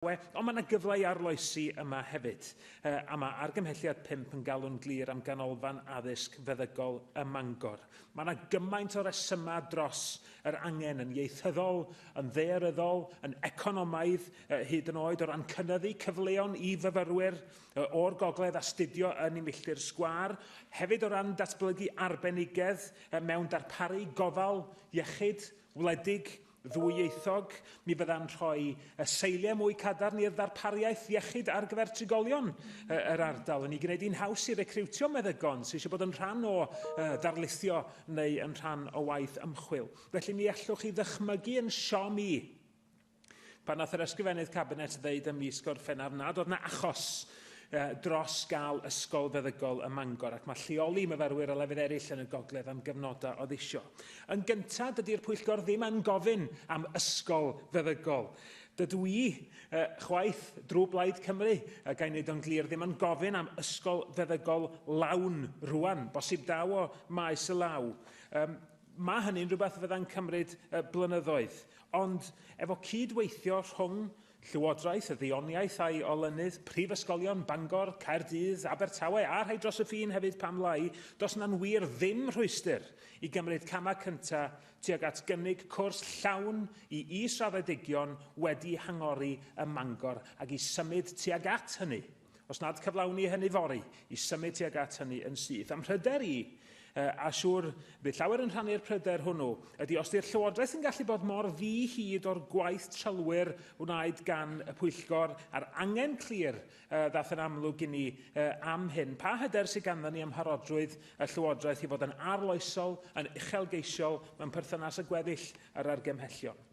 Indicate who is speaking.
Speaker 1: we, ond mae yna gyfle i arloesi yma hefyd, a mae argymhelliad 5 yn galw'n glir am ganolfan addysg feddygol ym Mangor. Mae yna gymaint o resymau dros yr angen yn ieithyddol, yn ddaearyddol, yn economaidd, hyd yn oed o ran cynyddu cyfleon i fyfyrwyr o'r gogledd astudio yn y milltir sgwâr, hefyd o ran datblygu arbenigedd mewn darparu gofal iechyd wledig, ddwyieithog, mi fydda'n rhoi y seiliau mwy cadarn i'r ddarpariaeth iechyd ar gyfer trigolion yr ardal, yn ei gwneud hi'n haws i recriwtio meddygon sydd eisiau bod yn rhan o ddarlithio neu yn rhan o waith ymchwil. Felly mi allwch chi ddychmygu yn siom i pan nath yr Ysgrifennydd Cabinet ddeud ym mis Gorffennaf nad oedd 'na achos dros gael ysgol feddygol ym Mangor ac mae lleoli myfyrwyr o lefydd eraill yn y gogledd am gyfnodau o ddisio. Yn gyntaf, dydy'r pwyllgor ddim yn gofyn am ysgol feddygol. Dydw i chwaith, drwy Blaid Cymru, a ga'i wneud o'n glir, ddim yn gofyn am ysgol feddygol lawn rwan, bosib daw o maes y law. Mae hynny'n rhywbeth fyddai'n cymryd blynyddoedd, ond efo cyd-weithio rhwng Llywodraeth y Ddioniaeth a'i olynydd, prifysgolion Bangor, Caerdydd, Abertawe a rhai dros y ffin hefyd pam lai, does yna'n wir ddim rhwystr i gymryd camau cynta tuag at gynnig cwrs llawn i is-raddedigion wedi hangori ym Mangor ac i symud tuag at hynny. Os nad cyflawni hynny fory, i symud tuag at hynny yn syth. Am mhryder i, a siŵr bydd llawer yn rhannu'r pryder hwnnw, ydy os di'r Llywodraeth yn gallu bod mor ddi hyd o'r gwaith trylwyr wnaed gan y Pwyllgor a'r angen clir uh, ddath yn amlwg i ni uh, am hyn. Pa hyder sydd ganddo ni am mharodrwydd y Llywodraeth i fod yn arloesol, yn uchelgeisiol mewn perthynas â gweddill yr argymhellion?